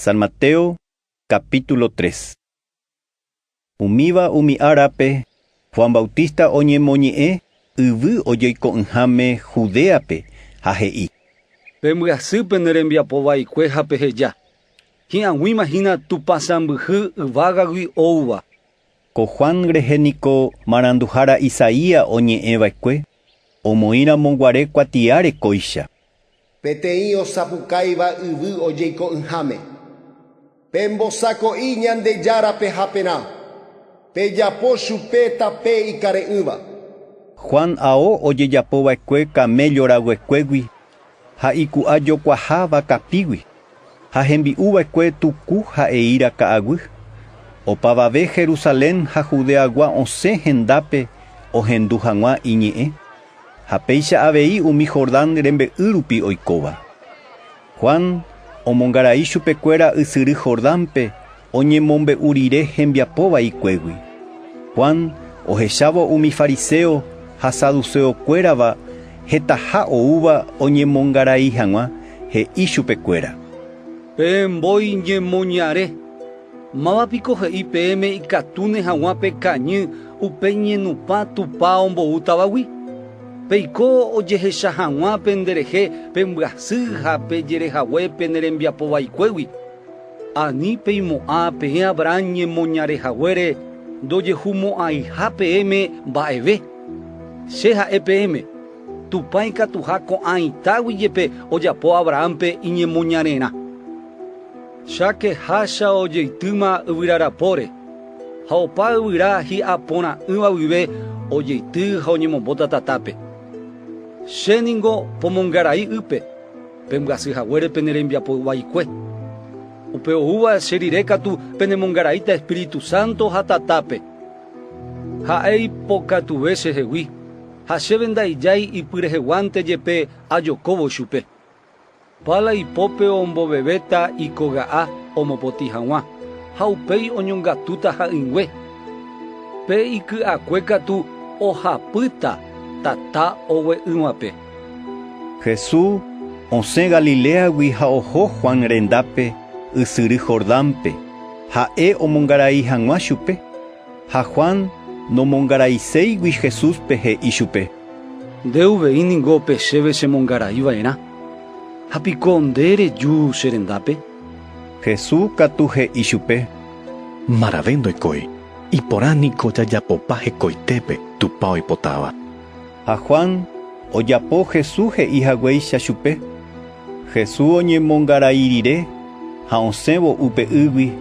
San Mateo capítulo 3 Umíva umi árape, Juan Bautista oñemoñe'ẽ yvy ojoiko'ỹháme Judéape ha he'i. Pembyasy pene rembiapo vaikue ha peheja, Hi'aguĩma hína Tupã sãmbyhy yvágagui oúva. Ko Juan rehe niko maranduhára Isaías oñe'ẽ va'ekue, Omoĩramo guare kuatiáre kóicha. Peteĩ osapukáiva yvy ojeiko'ỹháme. Pembosako'i Ñandejárape haperã, pejapo chupe tape ikare'ỹva. Juan ao ojejapova'ekue kaméllo raguekuégui ha iku'a jokuaha vakapígui, ha hembi'u va'ekue tuku ha eíra ka'aguy. Opavave Jerusalén ha Judeagua osẽ hendápe ohendu hag̃ua iñe'ẽ, ha péicha avei umi Jordán rembe'y rupi oikóva. Juan omongarai chupekuéra ysyry Jordánpe, oñemombe'u rire hembiapo vaikuégui. Juan ohechávo umi fariséo ha saduséo kuérava hetaha oúva oñemongarai hag̃ua, he'i chupe kuéra: Pe mbói ñemoñare, máva piko he'i peẽme ikatúne hag̃ua pe kañy upe ñenupã tupa ombou tavagui? Peiko ojehecha hag̃ua pende rehe pe mbyasy ha pe jerehague pene rembiapo vaikuégui. Ani peimo'ã peẽ Abraham ñemoñare haguére ndojehumo'ãiha peẽme mba'eve. Che ha'e peẽme, Tupã ikatuha ko'ã itágui jepe ojapo Abrahánpe iñemoñarerã. Cháke hácha ojeitýma yvyra rapóre, ha opa yvyra hi'a porã'ỹva guive ojeity ha oñemombóta tatápe. Che ningo pomongarai ýpe. Pembyasy haguére pene rembiapo vaikue. Upe oúva che rire katu penemongaraíta Espíritu Santo ha tatápe. Ha'e ipokatuve chehegui, ha chéve ndaijái ipyreheguánte jepe ajokóvo chupe. Pala ipópe ombovevéta ikoga'a omopotĩ haguã, ha upéi oñongatúta ha'ỹingue. Pe iky'akue katu ohapýta tata ogue'ỹvape. Jesús osẽ Galiléagui ha oho Juan rendápe ysyry Jordánpe, ha'e omongarai hag̃ua chupe. Ha Juan nomongaraséigui Jesúspe, he'i chupe: Nde uvei ningo pe chéve chemongarai va'erã, ha piko nde reju che rendápe? Jesús katu he'i chupe: Marave ndoikói, iporã niko jajapopa hekoitépe Tupã oipotáva. Ha Juan ojapo Jesús he'i haguéicha chupe. Jesús oñemongarai rire ha osẽvo upe ýgui,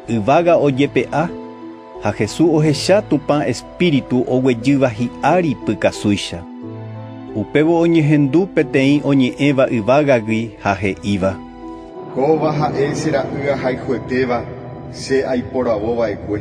yvága ojepe'a, ha Jesús ohecha Tupã Espíritu oguejýva hi'ári pykasúicha. Upévo oñehendu peteĩ oñe'ẽva yvágagui ha he'íva: “Kóva ha'e che Ra'y ahayhuetéva, che aiporavova'ekue.”